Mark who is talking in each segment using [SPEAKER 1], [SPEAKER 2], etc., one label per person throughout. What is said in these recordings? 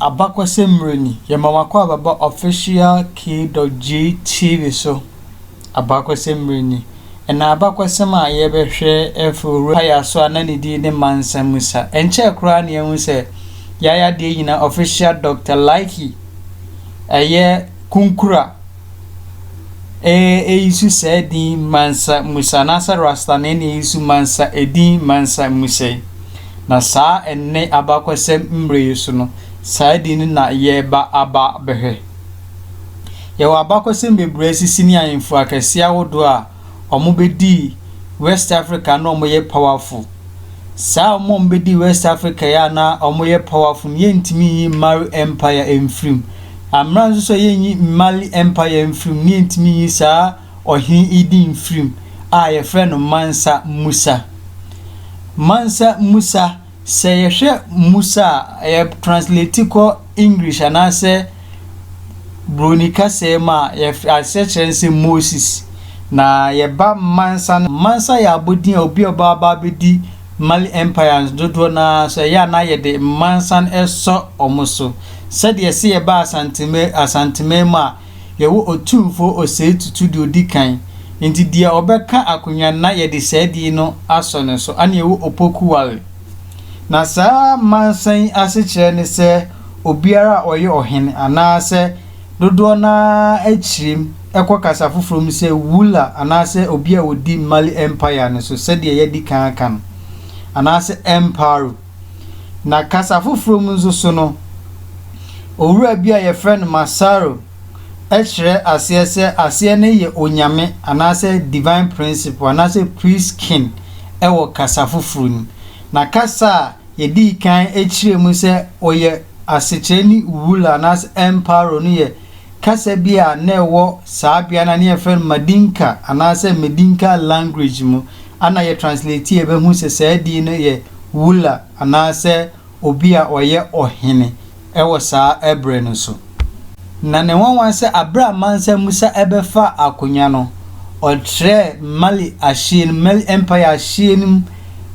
[SPEAKER 1] Abakɔsɛm mmerɛ ni, yɛma mo akwaaba ba official k-dot-j TV so. Abakɔsɛm mmerɛ ni, ɛna abakɔsɛm a yɛbɛhwɛ afi Owura Paya so a na ne din ne Mansa Musa. Ɛnkyɛɛ koraa na yɛahu sɛ Yaya Deɛ Nyinaa official Doctor Likey, ɛyɛ Kunkura. Ee, eyi nso saa edin Mansa Musa, anaasɛ Rasta na ɛne eyi nso Mansa, edin Mansa Musa yi. Na saa ɛnnɛ abakɔsɛm mmerɛ yi so no, saa edin no na yɛreba aba abɛhwɛ. Yɛwɔ abakɔsɛm bebree a asisi ne ahemfo akɛseɛ ahodoɔ a wɔbɛdii West Africa na wɔyɛ powerful. Saa wɔn a wɔbɛdii West Africa yi a na wɔyɛ powerful no, yɛntumi nyi Mari Empire mfiri mu. Amena nso sɛ yɛnyi Mali Empire mfiri mu no, yɛntumi nyi saa ɔhene yi din mfiri mu a yɛfrɛ no Mansa Musa. Mansa Musa. Sɛ yɛhwɛ mmusa a yɛ translate kɔ English anaasɛ Broni kasaɛ mu a, yɛf aseɛkyerɛ no sɛ Moses. Na yɛba Mansa no, Mansa yɛ abɔdin a obi a ɔba aba abɛdi Mali Empire no dodoɔ no ara so, ɛyɛ a na yɛde Mansa no sɔ wɔn so. Sɛdeɛ se yɛba Asanteme Asanteman mu a, Yɛwɔ Otumfoɔ Osei Tutu deɛ ɔdi kan, nti deɛ ɔbɛka akonnwa no na yɛde saa din no asɔ ne so, ɛna yɛwɔ Opoku Wale. Na saa mansa yi asekyerɛ ne sɛ obiara a ɔyɛ ɔhene anaasɛ dodoɔ no ara akyirem kɔ kasa foforɔ mu sɛ Wula anaasɛ obi a ɔdi Mali Empire no so sɛdeɛ yɛadi kan aka no, anaasɛ Emparu. Na kasa foforɔ mu nso so no, owura bi a wɔfrɛ no Massaro kyerɛ aseɛ sɛ aseɛ no yɛ onyame anaasɛ divine principle anaasɛ priest king wɔ kasa foforɔ no mu. Na kasa a yɛdii kan kyerɛɛ mu sɛ ɔyɛ asekyerɛ ne Uwula anaasɛ Emparo no yɛ kasa bi a na ɛwɔ saa bea no a na yɛfrɛ no Madinka anaasɛ Medinka language mu a na yɛtranslate yɛbɛhu sɛ saa din no yɛ wula anaasɛ obi a ɔyɛ ɔhene wɔ saa bere no so. Na ne nwanwa sɛ bere a Mansa Musa bɛfaa akonnwa no, ɔtrɛɛ Mali ahyeɛ no mu, Mali Empire ahyeɛ no mu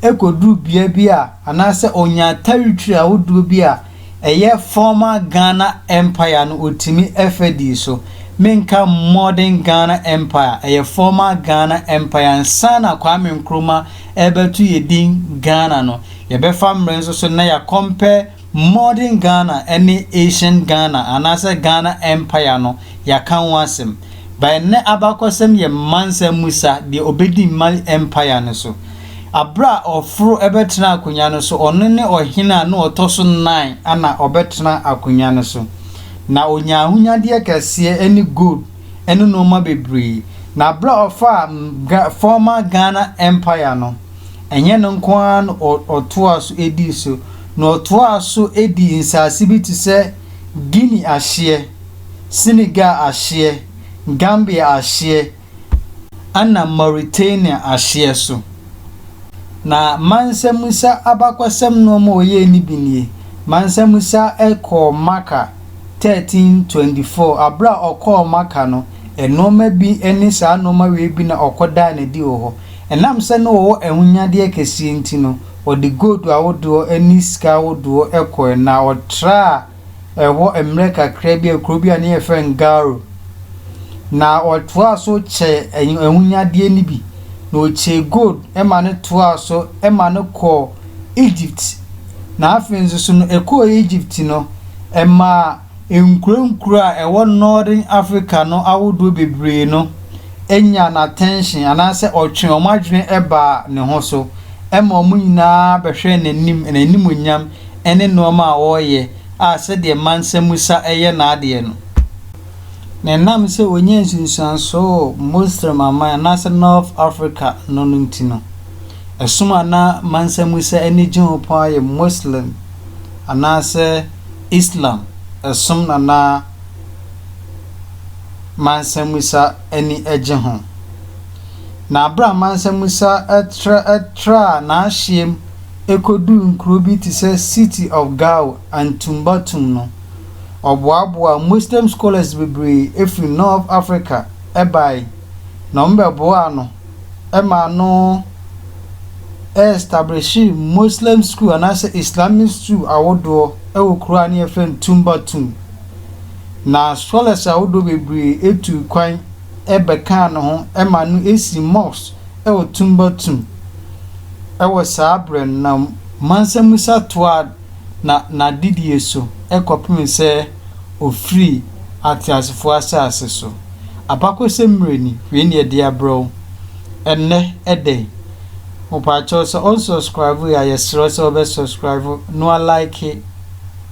[SPEAKER 1] kɔduruu bea bi a anaasɛ ɔnyaa territory ahodoɔ bi a Ɛyɛ former Ghana Empire no otumi ɛfɛ dii so, menka modern Ghana Empire, ɛyɛ former Ghana Empire nsaana Kwame Nkrumah ɛbɛto yɛ din Ghana no. Yɛbɛfa mmerɛ nso so na yɛ compare modern Ghana ɛne ancient Ghana anaasɛ Ghana Empire no yɛaka ho asɛm. By nnɛ abakɔsɛm yɛ mmansɛm mu sa deɛ ɔbɛdi mma Empire no so. Bere a ɔforo bɛtena akonnwa no so, ɔno ne ɔhene a na ɔtɔ so nnan a na ɔbɛtena akonnwa no so. Ná onya ahonyadeɛ akɛseɛ ne gold ne nnoɔma bebree. Na bere a ɔfaa Ga former Ghana Empire no, ɛnyɛ no nko ara na ɔ ɔtoaa so dii so, na ɔtoaa so dii nsase bi te sɛ Guinea ahyeɛ, Senegal ahyeɛ, Gambia ahyeɛ, na Mauritania ahyeɛ so. Na Mansa Musa abakɔsɛm nnoɔma a ɔyɛɛ no bi nie, Mansa Musa kɔɔ Makkah 1324, berɛ a ɔkɔɔ Makkah no, nnoɔma bi ne saa nnoɔma wei bi na ɔkɔdaa no adi wɔ hɔ. Ɛnam sɛ na ɔwɔ ahonyadeɛ kɛseɛ nti no, ɔde gold ahodoɔ ne sika ahodoɔ kɔeɛ na ɔtraa, ɛhɔ mmerɛ kakra bi a kuro bi a ne yɛfrɛ no Garo. Na ɔtoaa so kyɛɛ ɛny ahonyadeɛ no bi, na ɔkyɛɛ gold ma no toaa so ma no kɔɔ Egypt. Na afei nso so no, ɛkɔɔ Egypt no, ɛmaa nkuro nkuro a ɛwɔ Northern Africa no ahodoɔ bebree no nyaa n'attention anaasɛ ɔtwee wɔn adwene baa ne ho so ma wɔn nyinaa bɛhwɛɛ n'anim, n'animuonyam ne nnoɔma a ɔreyɛ a sɛdeɛ mansa musa yɛ n'adeɛ no, na ɛnam sɛ ɔnya nsunsuansoɔ wɔ Moslem aman anaasɛ North Africa no no nti no, ɛsom a na mansa musa ani gye ho pa ara yɛ Moslem anaasɛ Islam som na na mansa musa ani gye ho. Na berɛ a mansa musa tra traa n'ahyeɛ mu ekoduu nkurow bi te sɛ City of Gao and Tumbatum no, ɔboaboaa Muslim scholars bebree firi North Africa bae, na wɔbɛboaa no maa no ɛstablishee Muslim school anaasɛ Islamic school ahodoɔ wɔ kuro a na yɛfrɛ no Tumbatum. Na scholars ahodoɔ bebree tuu kwan. bɛkaa ne ho ma no sii Mox wɔ Tumbatum wɔ saa berɛ no na Mansa-Musa toaa na n'adedie so kɔpem sɛ ɔfirii ateasefoɔ asase so. Abakɔsɛm mmerɛ ni, wei ne yɛde abrɛ wo ɛnnɛ, ɛdɛn? Mopaakyɛw sɛ ɔn subscribe yi a yɛsrɛ wo sɛ wobɛ subscribe na wa like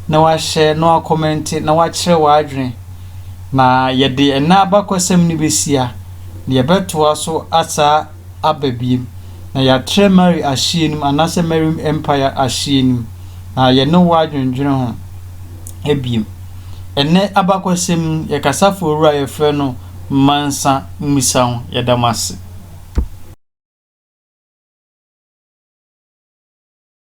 [SPEAKER 1] na wa share na wa comment na wakyerɛ w'adwene. na yɛde ɛnnɛ abakɔsɛm no behyia, na yɛbɛtoa so asaa aba biem, na yɛatrɛ Mary ahyeɛ no mu, anaasɛ Mary Empire ahyeɛ no mu, na yɛne wo adwendwene ho biem. Ɛnnɛ abakɔsɛm no, yɛ kasafo awura a yɛfrɛ no Mansa Musa ho, yɛda mo ase.